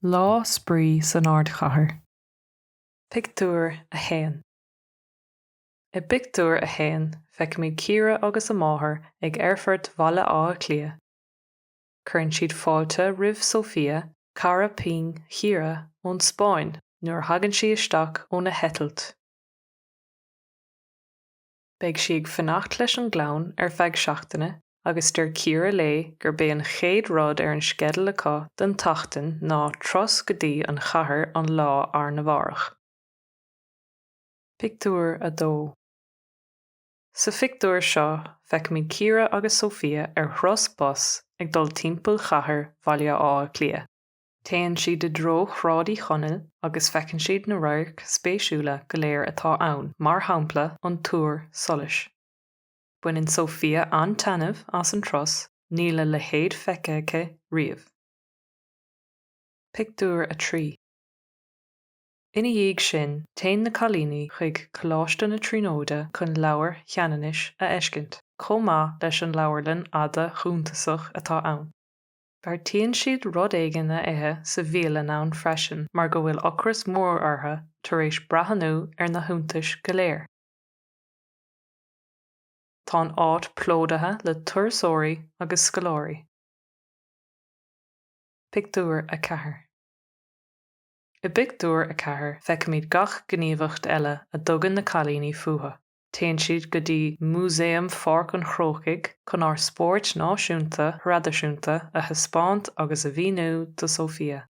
Lá Spraoi san Ardchathair, Pictiúr 1 I bpictiúr a haon feicimid Ciara agus a máthair ag Aerfort Bhaile Átha Cliath. Cuireann siad fáilte roimh Sofía, cara pinn Chiara, ón Spáinn nuair a thagann sí isteach óna heitilt. Beidh sí ag fanacht leis an gclann ar feadh seachtaine agus deir Ciara léi gurb é an chéad rud ar an sceideal acu don tseachtain ná turas go dtí an chathair an lá arna mhárach. Pictiúr 2 Sa phictiúr seo feicimid Ciara agus Sofía ar thuras bus ag dul timpeall chathair Bhaile Átha Cliath. Téann siad i dtreo Shráid Uí Chonaill agus feiceann siad na radhairc spéisiúla go léir atá ann, mar shampla an túr solais. Baineann Sofía an-taitneamh as an turas, níl a leithéid feicthe aici riamh. Pictiúr 3 Ina dhiaidh sin, téann na cailíní chuig Coláiste na Tríonóide chun Leabhar Cheanannais a fheiscint, chomh maith leis an leabharlann fhada shuntasach atá ann. Beartaíonn siad rud éigin a ithe sa bhialann ann freisin mar go bhfuil ocras mór orthu tar éis breathnú ar na hiontais go léir. Tá an áit plódaithe le turasóirí agus scoláirí. Pictiúr 4 I bpictiúr a ceathair feicimid gach gníomhacht eile a dtugann na cailíní fúthu. Téann siad go dtí Músaem Pháirc an Chrócaigh chun ár spóirt náisiúnta thraidisiúnta a thaispeáint agus a mhíniú do Sofía.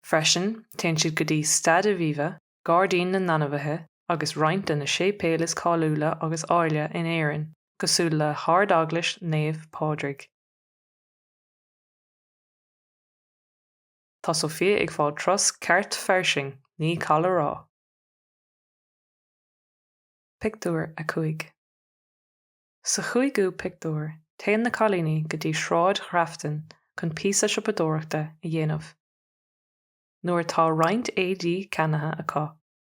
Freisin, téann siad go dtí Staid Aviva, Gairdín na nAinmhithe agus roinnt de na séipéil is cáiliúla agus áille in Éirinn, cosúil le hArd-Eaglais Naomh Pádraig. Tá Sofía ag fáil turas ceart fairsing, ní call a rá! Pictiúr 5 Sa chúigiú pictiúr, téann na cailíní go dtí Sráid Ghrafton chun píosa siopadóireachta a dhéanamh. Nuair atá roinnt éadaí ceannaithe acu,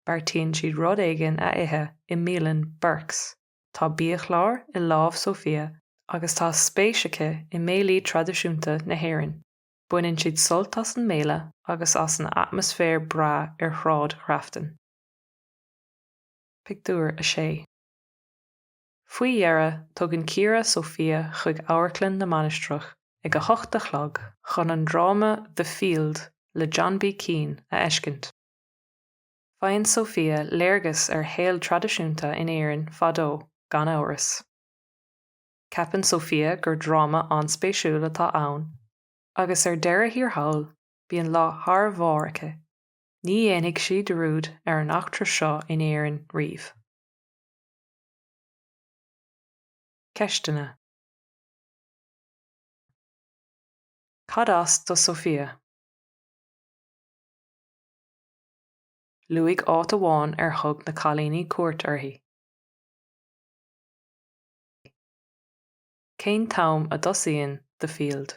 beartaíonn siad rud éigin a ithe i mbialann Burke's. Tá biachlár i lámh Sofía agus tá spéis aici i mbéilí traidisiúnta na hÉireann. Baineann siad sult as an mbéile agus as an atmaisféar breá ar Shráid Ghrafton. Pictiúr 6 Faoi dheireadh, tugann Ciara Sofía chuig Amharclann na Mainistreach ag a hocht a chlog chun an dráma The Field le John B. Keane a fheiscint. Faigheann Sofía léargas ar shaol traidisiúnta in Éirinn fadó, gan amhras. Ceapann Sofía gur dráma an-spéisiúil atá ann agus ar deireadh thiar thall, bíonn lá thar barr aici. Ní dhéanfaidh sí dearúd ar an eachtra seo in Éirinn riamh. Ceisteanna Cad as do Sofía? Luaigh áit amháin ar thug na cailíní cuairt uirthi. Cén t-am a thosaíonn The Field?